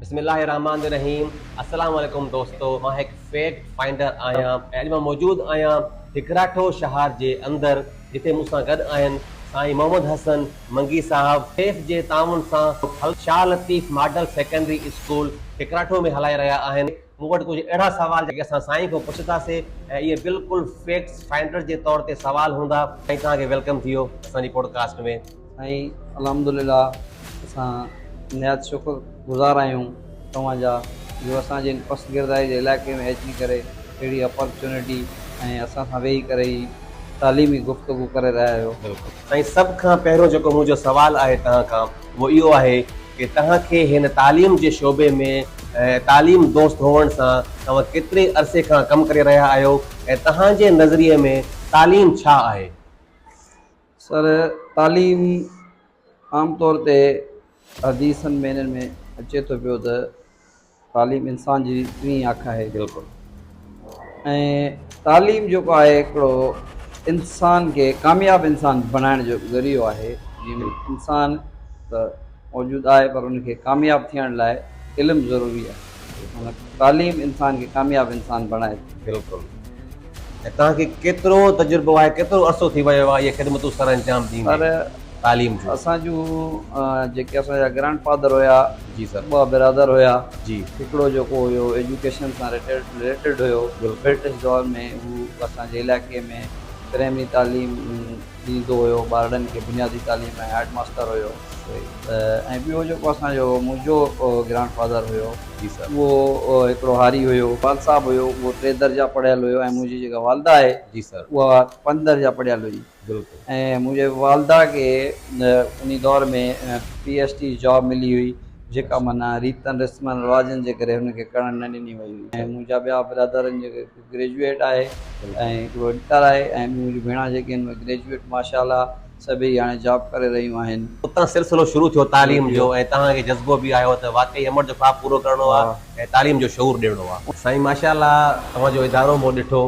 بسم الله الرحمٰن الرحيم السلام عليڪم دوستو مان هڪ فيڪٽ فائنڊر آهيان ۽ اڄ مان موجود آهيان هڪراٺو شهار جي اندر جتي مون سان گڏ آهن سائين محمد حسن منگي صاحب سيف جي تعاون سان ڦل Shah Latif model secondary school هڪراٺو ۾ هلائي رهيا آهن مون وٽ ڪجهه اهڙا سوال جيڪي اسان سائين کان پڇنداسين ۽ اهي بلڪل فيڪٽس فائنڊر جي طور تي سوال هوندا. سائين توهان کي ويلڪم ٿيو اسان جي پوڊڪاسٽ ۾. سائين الحمدلله اسان نهايت شڪر گذار آهيون توهان جا جو اسان جي ان پست گردائي جي علائقي ۾ اچي ڪري اهڙي اپرچونٽي ۽ اسان سان ويهي ڪري هي تعليمي گفتگو ڪري رهيا آهيو. سائين سڀ کان پهريون جيڪو منهنجو سوال آهي توهان کان اهو اهو آهي ڪي توهان کي هن تعليم جي شعبي ۾ تعليم دوست هئڻ سان توهان ڪيتري عرصي کان ڪم ڪري رهيا آهيو ۽ توهان جي نظريي ۾ تعليم ڇا آهي؟ سر تعليم عام طور تي حديثن ۾ هنن ۾ اچي ٿو پيو ته. تعليم انسان جي ٽين اک آهي بلڪل ۽ تعليم جيڪو آهي هڪڙو انسان کي ڪامياب انسان بڻائڻ جو ذريعو آهي جنهن ۾ انسان ته موجود آهي پر ان کي ڪامياب ٿيڻ لاء علم ضروري آهي تعليم انسان کي ڪامياب انسان بڻائي ٿي بلڪل ۽ توهان کي ڪيترو تجربو آهي، ڪيترو عرصو ٿي ويو آهي اهي خدمتون سر انجام ڏيندي تعليم جون؟ اسان جون جيڪي اسان جا گرانڊ فادر هيا جي سر ٻه برادر هيا جي هڪڙو جيڪو هيو ايجوڪيشن سان ريليٽيڊ هيو برٽش دور ۾ هو اسان جي علائقي ۾ پرائمري تعليم ڏيندو هيو ٻارڙن کي بنيادي تعليم ۽ هيڊ ماستر هيو ۽ ٻيو جيڪو اسان جو منهنجو گرانڊ فادر هيو اهو هڪڙو هاري هيو وال صاحب هيو اهو ٽي درجا پڙهيل هيو ۽ منهنجي جيڪا والده آهي اها پنج درجا پڙهيل هئي ۽ منهنجي والده کي انهي دور ۾ پي ايس ٽي جاب ملي هئي جيڪا معنيٰ ريتن رسمن رواجن جي ڪري هن کي ڪرڻ نه ڏني وئي هئي ۽ منهنجا ٻيا برادر جيڪي گريجوئيٽ آهي ۽ هڪڙو انڪار آهي ۽ ٻيون منهنجون ڀيڻان جيڪي آهن اهي گريجوئيٽ ماشاء الله سڀيئي هاڻي جاب ڪري رهيون آهن. اتان سلسلو شروع ٿيو تعليم جو ۽ توهان کي جذبو به آيو ته واقعي امڙ جو خواب پورو ڪرڻو آهي ۽ تعليم جو شعور ڏيڻو آهي. سائين ماشاء الله توهان جو ادارو مون ڏٺو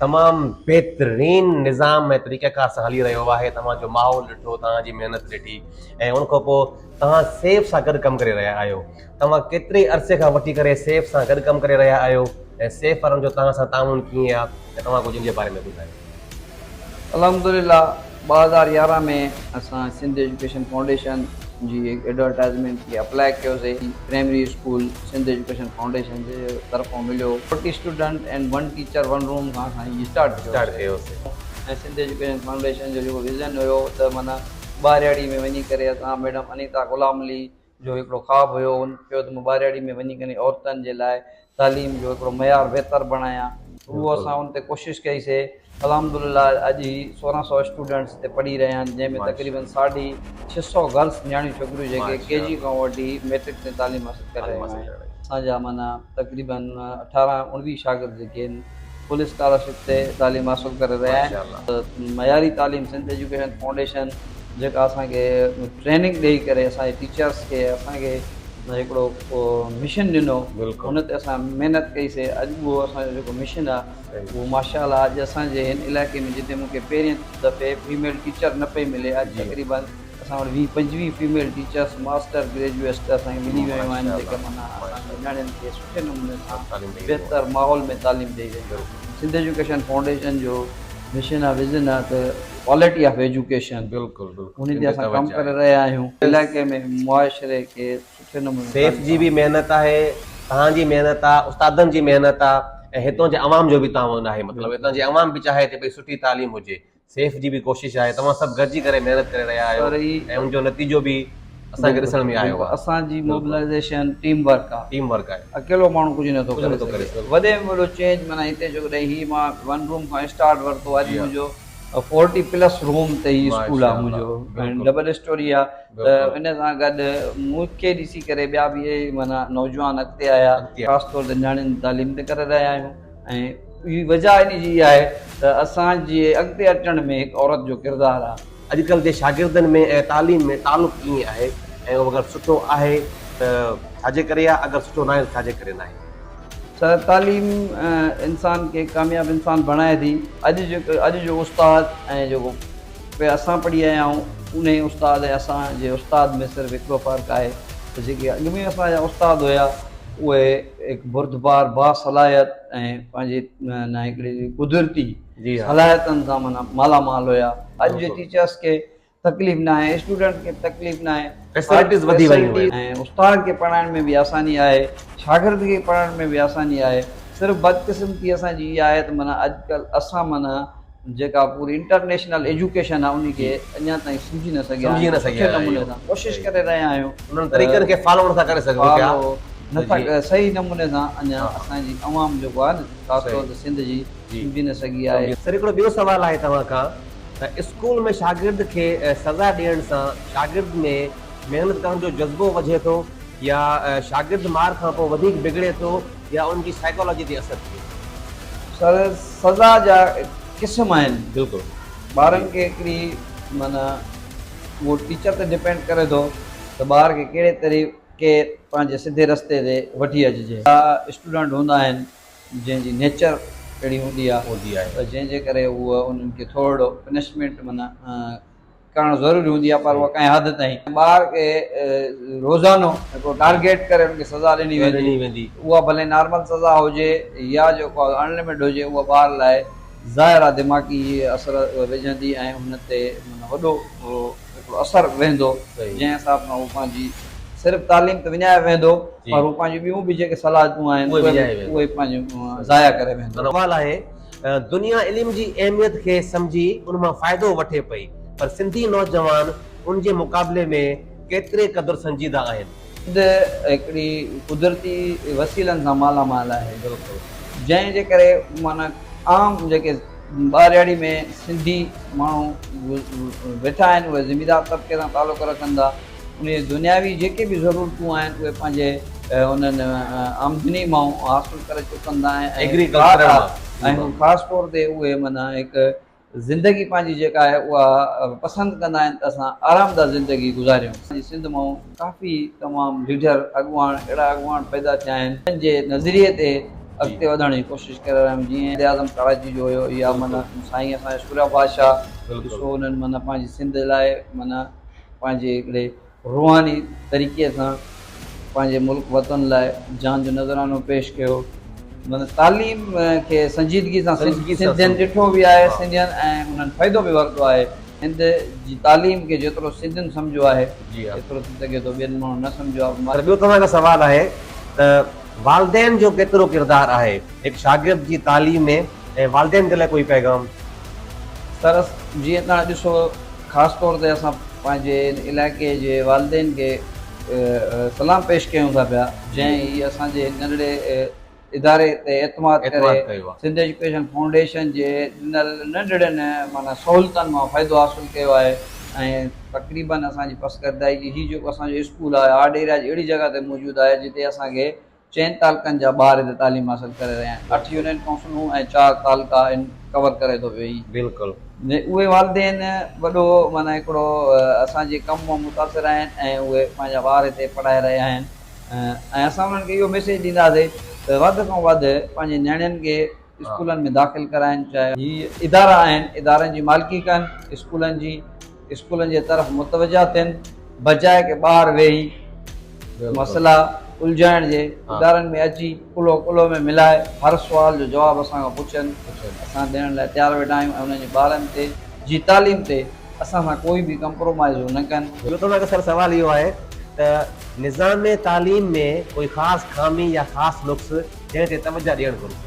تمام بهترين نظام ۽ طريقه ڪار سان هلي رهيو آهي توهان جو ماحول ڏٺو توهان جي محنت ڏٺي ۽ ان کان پوء توهان سيف سان گڏ ڪم ڪري رهيا آهيو. توهان ڪيتري عرصي کان وٺي ڪري سيف سان گڏ ڪم ڪري رهيا آهيو ۽ سيف وارن جو توهان سان تعاون ڪيئن آهي ۽ توهان ڪجهه ان جي باري ۾ ٻڌايو. الحمدلله ٻه هزار يارهن ۾ اسان سنڌ ايجوڪيشن فائونڊيشن جي ايڊورٽائزمينٽ کي اپلائي ڪيوسي primary school Sindh education foundation جي طرفان مليو forty student and one teacher one room کان اسان هي اسٽارٽ ڪيوسي ۽ سنڌ ايجوڪيشن فائونڊيشن جو جيڪو ويزن هيو ته معنيٰ ٻهراڙي ۾ وڃي ڪري اسان ميڊم انيتا غلام علي جو هڪڙو خواب هيو هن چيو ته مون ٻارياڙي ۾ وڃي ڪري عورتن جي لاء تعليم جو هڪڙو معيار بهتر بڻايان اهو اسان ان تي ڪوشش ڪئي سي الحمد لله اڄ هي سورهن سؤ اسٽوڊنٽس هتي پڙهي رهيا آهن جنهن ۾ تقريبن ساڍي ڇهه سؤ گرلس نياڻيون ڇوڪريون جيڪي ڪي جي کان وٺي ميٽرڪ تائين تعليم حاصل ڪري رهيون آهن اسان جا معنيٰ تقريباً اٺارهن اڻويهه شاگرد جيڪي ان فل اسڪالرشپ تي تعليم حاصل ڪري رهيا آهن معياري تعليم سنڌ ايجوڪيشن فائونڊيشن جيڪا اسان کي ٽريننگ ڏئي ڪري اسان جي ٽيچرس کي اسان کي هڪڙو مشن ڏنو ان تي اسان محنت ڪئي سي اڄ به اهو اسان جو جيڪو مشن آهي اهو ماشاء الله اڄ اسان جي هن علائقي ۾ جتي مون کي پهرين دفعي فيميل ٽيچر نه پئي ملي اڄ تقريباً اسان وٽ ويهه پنجويهه فيميل ٽيچرس ماسٽر گريجوئيٽس ته اسان کي ملي ويون آهن جيڪي معنيٰ اسان جي نياڻين کي سٺي نموني سان بهتر ماحول ۾ تعليم ڏئي رهيون آهن. سنڌ ايجوڪيشن فائونڊيشن جو مشن ۽ وزن آهي ته ڪوالٽي آف ايجوڪيشن انهي تي اسان ڪم ڪري رهيا آهيون. علائقي ۾ معاشري کي سٺي نموني سيف تعليم جي به محنت آهي توهان جي محنت آهي استادن جي محنت آهي ۽ هتان جي عوام جو به تعاون آهي مطلب هتان جي عوام به چاهي ٿي پئي سٺي تعليم هجي سيف جي به ڪوشش آهي توهان سڀ گڏجي ڪري محنت ڪري رهيا آهيو ۽ ان جو نتيجو به اسان کي ڏسڻ ۾ آيو آهي. اسان جي موبلائيزيشن ٽيم ورڪ آهي. ٽيم ورڪ آهي. اڪيلو ماڻهو ڪجهه نه ٿو ڪري سگهي. وڏي ۾ وڏو چينج معنيٰ هتي جو ڪڏهن هي مان ون روم کان اسٽارٽ ورتو اڄ منهنجو فورٽي پلس روم تي هي اسڪول آهي منهنجو ڊبل اسٽوري آهي ته ان سان گڏ مون کي ڏسي ڪري ٻيا به معنيٰ نوجوان اڳتي آيا خاص طور تي نياڻين تعليم تي ڪري رهيا آهيون. ۽ وجهه ان جي اها آهي ته اسان جي اڳتي اچڻ ۾ هڪ عورت جو ڪردار آهي. اڄڪلهه جي شاگردن ۾ ۽ تعليم ۾ تعلق ڪيئن آهي ۽ اهو اگر سٺو آهي ته ڇاجي ڪري آهي اگر سٺو ناهي ته ڇاجي ڪري ناهي؟ سر تعليم انسان کي ڪامياب انسان بڻائي ٿي اڄ جو اڄ جو استاد ۽ جيڪو پي اسان پڙهي آيا آهيون انهي استاد ۽ اسان جي استاد ۾ صرف هڪڙو فرق آهي ته جيڪي اڳ ۾ اسان جا استاد هيا اهي هڪ بردبار، باصلاحيت ۽ پنهنجي نه هڪڙي قدرتي صلاحيتن سان معنيٰ مالا مال هيا. اڄ جي ٽيچرس کي تڪليف نه آهي، اسٽوڊنٽ کي تڪليف نه آهي. فيسلٽيز وڌي ويون آهن. ۽ استاد کي پڙهائڻ ۾ به آساني آهي، شاگرد کي پڙهڻ ۾ به آساني آهي. صرف بدقسمتي اسان جي اها آهي ته معنيٰ اڄ ڪلهه اسان معنيٰ جيڪا پوري انٽرنيشنل ايجوڪيشن آهي انهي کي اڃا تائين سمجهي نه سگهيا آهيون سٺي نموني سان ڪوشش ڪري رهيا آهيون انهن طريقن کي فالو نٿا ڪري سگهون پيا نٿا صحيح نموني سان اڃا اسان جي عوام جيڪو آهي نه خاص طور تي سنڌ جي سمجهي نه سگهي آهي. سر هڪڙو ٻيو سوال آهي توهان کان ته اسڪول ۾ شاگرد کي سزا ڏيڻ سان شاگرد ۾ محنت ڪرڻ جو جذبو وڌي ٿو يا شاگرد مار کان پوء وڌيڪ بگڙي ٿو؟ يا ان جي سائيڪالاجي تي اثر ٿئي ٿو. سر سزا جا قسم آهن بلڪل ٻارن کي هڪڙي معنيٰ اهو ٽيچر تي ڊپينڊ ڪري ٿو ته ٻار کي ڪهڙي طريقي پنهنجي سڌي رستي تي وٺي اچجي ڪا اسٽوڊنٽ هوندا آهن جنهن جي نيچر اهڙي هوندي آهي ته جنهن جي ڪري هو انهن کي ٿورڙو پنشمينٽ معنيٰ ڪرڻ ضروري هوندي آهي پر اها ڪنهن حد تائين. ٻار کي روزانو هڪڙو ٽارگيٽ ڪري ان کي سزا ڏني ويندي. اها ڀلي نارمل سزا هجي يا جيڪو اڻ لمٽ هجي اها ٻار لاء ظاهر آهي دماغي اثر وجهندي ۽ هن تي معنيٰ وڏو هڪڙو اثر ويهندو جنهن حساب سان هو پنهنجي صرف تعليم ته وڃائي ويهندو پر هو پنهنجي ٻيون به جيڪي صلاحيتون آهن اهي پنهنجي ضايع ڪري ويهندو. سوال آهي دنيا علم جي اهميت کي سمجهي ان مان فائدو وٺي پئي پر سنڌي نوجوان ان جي مقابلي ۾ ڪيتري قدر سنجيده آهن. سنڌ هڪڙي قدرتي وسيلن سان مالا مال آهي جنهن جي ڪري معنيٰ عام جيڪي ٻارڙي ۾ سنڌي ماڻهو ويٺا آهن اهي زميندار طبقي سان تعلق رکن ٿا. انهيء دنياوي جيڪي به ضرورتون آهن اهي پنهنجي انهن آمدني مان حاصل ڪري چڪن ٿا ۽ هو خاص طور تي اهي معنيٰ هڪ زندگي پنهنجي جيڪا آهي اها پسند ڪندا آهن ته اسان آرامده زندگي گذاريون. سنڌ مان ڪافي تمام ليڊر اڳواڻ اهڙا اڳواڻ پيدا ٿيا آهن جن جي نظريي تي اڳتي وڌڻ جي ڪوشش ڪري رهيا آهيون جيئن وزيراعظم ڪراچي جو هيو يا معنيٰ سائين اسان جو سوريا بادشاهه ڏسو انهن معنيٰ پنهنجي سنڌ لاء معنيٰ پنهنجي هڪڙي روحاني طريقي سان پنهنجي ملڪ وطن لاء جان جو نذرانو پيش ڪيو مطلب تعليم کي سنجيدگي سان سنڌين ڏٺو به آهي سنڌين ۽ انهن فائدو به ورتو آهي سنڌ جي تعليم کي جيترو سنڌين سمجهيو آهي ايترو ٿي سگهي ٿو ٻين ماڻهن نه سمجهيو آهي پر ٻيو توهان کان سوال آهي ته والدين جو ڪيترو ڪردار آهي هڪ شاگرد جي تعليم ۾ ۽ والدين جي لاء ڪوئي پيغام؟ سر جيئن توهان ڏسو خاص طور تي اسان پنهنجي ان علائقي جي والدين کي سلام پيش ڪيون ٿا پيا جنهن هي اسان جي ننڍڙي اداري تي اعتماد ڪري سنڌ ايجوڪيشن فائونڊيشن جي ڏنل ننڍڙين معنيٰ سهولتن مان فائدو حاصل ڪيو آهي ۽ تقريبن اسان جي پسگردائي جي هي جيڪو اسان جو اسڪول آهي آرٽ ايريا جي اهڙي جڳهه تي موجود آهي جتي اسان کي چئن تعلقن جا ٻار هتي تعليم حاصل ڪري رهيا آهن. اٺ يونين ڪائونسلون ۽ چار تعلقا ان ڪور ڪري ٿو پيو هي. بلڪل. اهي والدين وڏو معنيٰ هڪڙو اسان جي ڪم مان متاثر آهن ۽ اهي پنهنجا ٻار هتي پڙهائي رهيا آهن ۽ اسان انهن کي اهو ميسيج ڏينداسي ته وڌ کان وڌ پنهنجي نياڻين کي اسڪولن ۾ داخل ڪرائين چاهي هي ادارا آهن ادارن جي مالڪي ڪن اسڪولن جي اسڪولن جي طرف متوجه ٿين بجاء ڪي ٻاهر ويهي مسئلا الجهائڻ جي ادارن ۾ اچي ڪلهو ڪلهو ۾ ملائي هر سوال جو جواب اسان کان پڇن اسان ڏيڻ لاء تيار ويٺا آهيون ۽ انهن جي ٻارن تي جي تعليم تي اسان سان ڪوئي به ڪمپرومائيز هو نه ڪن. ٻيو تمام اڪثر سوال اهو آهي ته نظام تعليم ۾ ڪوئي خاص خامي يا خاص نقص جنهن تي توجهه ڏيڻ گهرجي.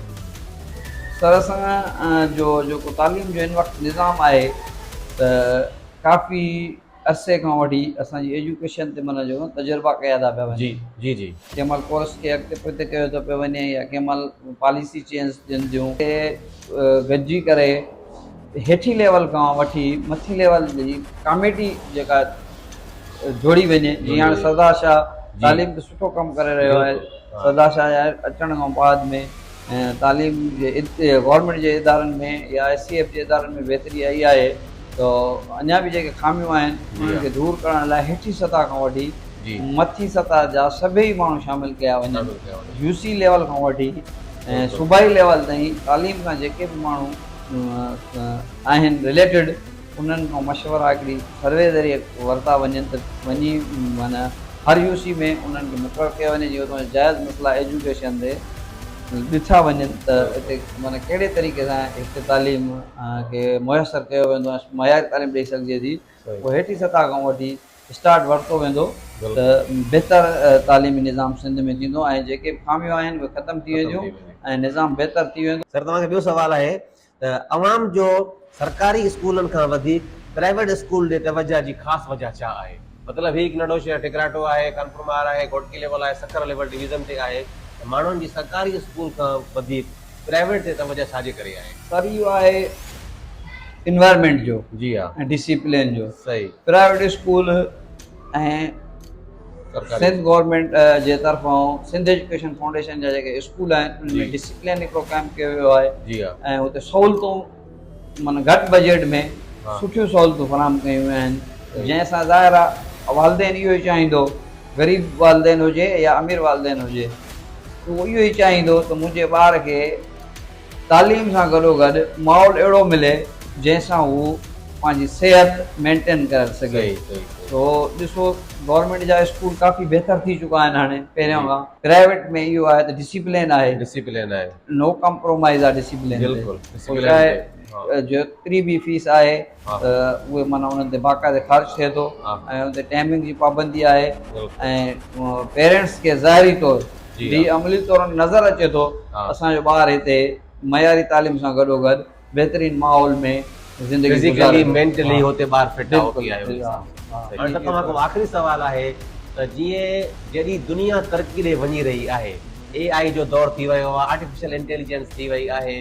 سرسنگ جو جيڪو تعليم جو هن وقت نظام آهي ته ڪافي عرصي کان وٺي اسان جي ايجوڪيشن تي معنيٰ چئون تجربا ڪيا ٿا پيا وڃن. ڪنهن مهل ڪورس کي اڳتي پوئتي ڪيو ٿو پيو وڃي يا ڪنهن مهل پاليسي چينج ٿين ٿيون. کي گڏجي ڪري هيٺين ليول کان وٺي مٿين ليول جي ڪاميٽي جيڪا جوڙي وڃي جي هاڻي سردار شاهه تعليم تي سٺو ڪم ڪري رهيو آهي سردار شاهه جي اچڻ کان بعد ۾ تعليم جي گورنمينٽ جي ادارن ۾ يا ايس سي ايف جي ادارن ۾ بهتري آئي آهي ته اڃا به جيڪي خاميون آهن انهن کي دور ڪرڻ لاء هيٺين سطح کان وٺي مٿين سطح جا سڀئي ماڻهو شامل ڪيا وڃن يو سي ليول کان وٺي ۽ صوبائي ليول تائين تعليم کان جيڪي به ماڻهو آهن رليٽيڊ انهن کان مشورا هڪڙي سروي ذريعي ورتا وڃن ته وڃي معنيٰ هر يو سي ۾ انهن کي مقرر ڪيو وڃي جي اتان جا جائز مسئلا ايجوڪيشن تي ڏٺا وڃن ته هتي معنيٰ ڪهڙي طريقي سان هتي تعليم کي ميسر ڪيو ويندو ۽ معياري تعليم ڏئي سگهجي ٿي پوء هيٺين سطح کان وٺي اسٽارٽ ورتو ويندو ته بهتر تعليمي نظام سنڌ ۾ ٿيندو ۽ جيڪي به خاميون آهن اهي ختم ٿي وينديون ۽ نظام بهتر ٿي ويندو. سر توهان کي ٻيو سوال آهي ته عوام جو سرڪاري اسڪولن کان وڌيڪ پرائيويٽ اسڪول ڏي توجهه جي خاص وجهه ڇا آهي؟ مطلب هي هڪ ننڍو شهر ٽڪراٽو آهي، خانپور مار آهي، گهوٽڪي ليول آهي، سکر ليول ڊويزن تي آهي ته ماڻهن جي سرڪاري اسڪول کان وڌيڪ پرائيويٽ تي توجه ڇا جي ڪري آهي؟ سر اهو آهي انوائرمينٽ جو ۽ ڊسيپلين جو پرائيويٽ اسڪول ۽ سنڌ گورمينٽ جي طرفان سنڌ ايجوڪيشن فائونڊيشن جا جيڪي اسڪول آهن ان ۾ ڊسيپلين هڪڙو قائم ڪيو ويو آهي ۽ هتي سهولتون معنيٰ گهٽ بجيٽ ۾ سٺيون سهولتون فراهم ڪيون ويون آهن جنهن سان ظاهر آ والدين اهو ئي چاهيندو غريب والدين هجي يا امير والدين هجي اهو اهو ئي چاهيندو ته منهنجي ٻار کي تعليم سان گڏو گڏ ماحول اهڙو ملي جنهن سان هو پنهنجي صحت مينٽين ڪري سگهي سو ڏسو گورنمينٽ جا اسڪول ڪافي بهتر ٿي چڪا آهن هاڻي پهريان کان پرائيويٽ ۾ اهو آهي ته ڊسيپلين آهي نو ڪمپرومائز آ ڊسيپلين تي پوء ڇا آهي جيتري به فيس آهي ته اهي معنيٰ انهن تي باقاعده خرچ ٿئي ٿو ۽ ان تي ٽائمنگ جي پابندي آهي ۽ پيرينٽس کي ظاهري طور جي عملي طور نظر اچي ٿو اسان جو ٻار هتي معياري تعليم سان گڏوگڏ بهترين ماحول ۾ زندگي گذاري فزيڪلي مينٽلي هتي ٻار فٽ آهو ٿي آيو هي سان هاڻي ته توهان کان آخري سوال آهي ته جيئن جيڏي دنيا ترقي ڏي وڃي رهي آهي اي آئي جو دور ٿي ويو آهي آرٽيفيشل انٽيليجنس ٿي وئي آهي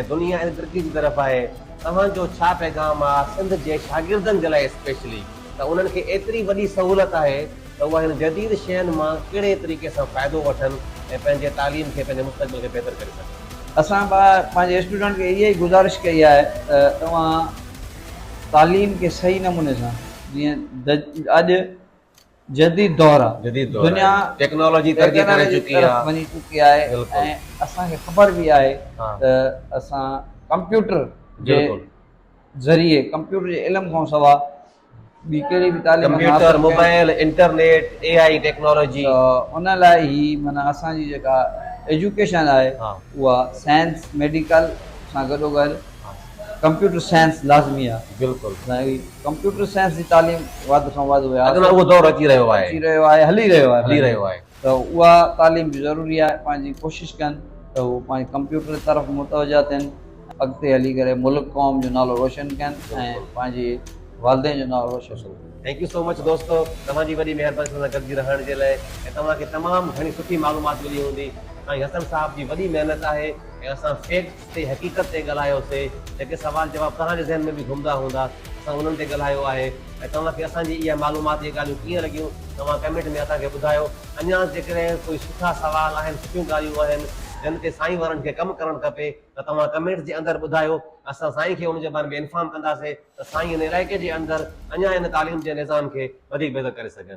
۽ دنيا ايڏي ترقي جي طرف آهي توهان جو ڇا پيغام آهي سنڌ جي شاگردن جي لاء اسپيشلي ته انهن کي ايتري وڏي سهولت آهي ته اهي هن جديد شين مان ڪهڙي طريقي سان فائدو وٺن ۽ پنهنجي تعليم کي پنهنجي مستقبل کي بهتر ڪري سگهن. اسان پنهنجي اسٽوڊنٽ کي اها ئي گذارش ڪئي آهي ته توهان تعليم کي صحيح نموني سان جيئن اڄ جديد دور آ دنيا ٽيڪنالاجي ترقي ڪري چڪي آ وڃي چڪي آهي ۽ اسان کي خبر به آهي ته اسان ڪمپيوٽر جي ذريعي ڪمپيوٽر جي علم کان سوا computer, mobile, internet, A I technology. ان لاء هي معنيٰ اسان جي جيڪا ايجوڪيشن آهي اها سائنس ميڊيڪل سان گڏو گڏ ڪمپيوٽر سائنس لازمي آهي. بلڪل. ڪمپيوٽر سائنس جي تعليم واڌ کان واڌ هئي. اڄ ڪلهه اهو دور اچي رهيو آهي. اچي رهيو آهي هلي رهيو آهي. هلي رهيو آهي. ته اها تعليم به ضروري آهي پنهنجي ڪوشش ڪن ته هو پنهنجي ڪمپيوٽر طرف متوجه ٿين اڳتي هلي ڪري ملڪ قوم جو نالو روشن ڪن ۽ پنهنجي والدين جو نالو روشن ڪن. ٿينڪ يو سو مچ دوستو توهان جي وڏي مهرباني اسان سان گڏجي رهڻ جي لاء ۽ توهان کي تمام گهڻي سٺي معلومات ملي هوندي سائين حسن صاحب جي وڏي محنت آهي ۽ اسان فيڪ تي حقيقت تي ڳالهايو سي جيڪي سوال جواب توهان جي ذهن ۾ به گهمدا هوندا اسان انهن تي ڳالهايو آهي ۽ توهان کي اسان جي اهي معلومات اهي ڳالهيون ڪيئن لڳيون توهان ڪمينٽ ۾ اسان کي ٻڌايو اڃانس جيڪڏهن ڪوئي سٺا سوال آهن سٺيون ڳالهيون آهن جن تي سائين وارن کي ڪم ڪرڻ کپي ته توهان ڪمينٽس جي اندر ٻڌايو اسان سائين کي ان جي باري ۾ انفارم ڪنداسي ته سائين ان علائقي جي اندر اڃان ان تعليم جي نظام کي وڌيڪ بهتر ڪري سگهن.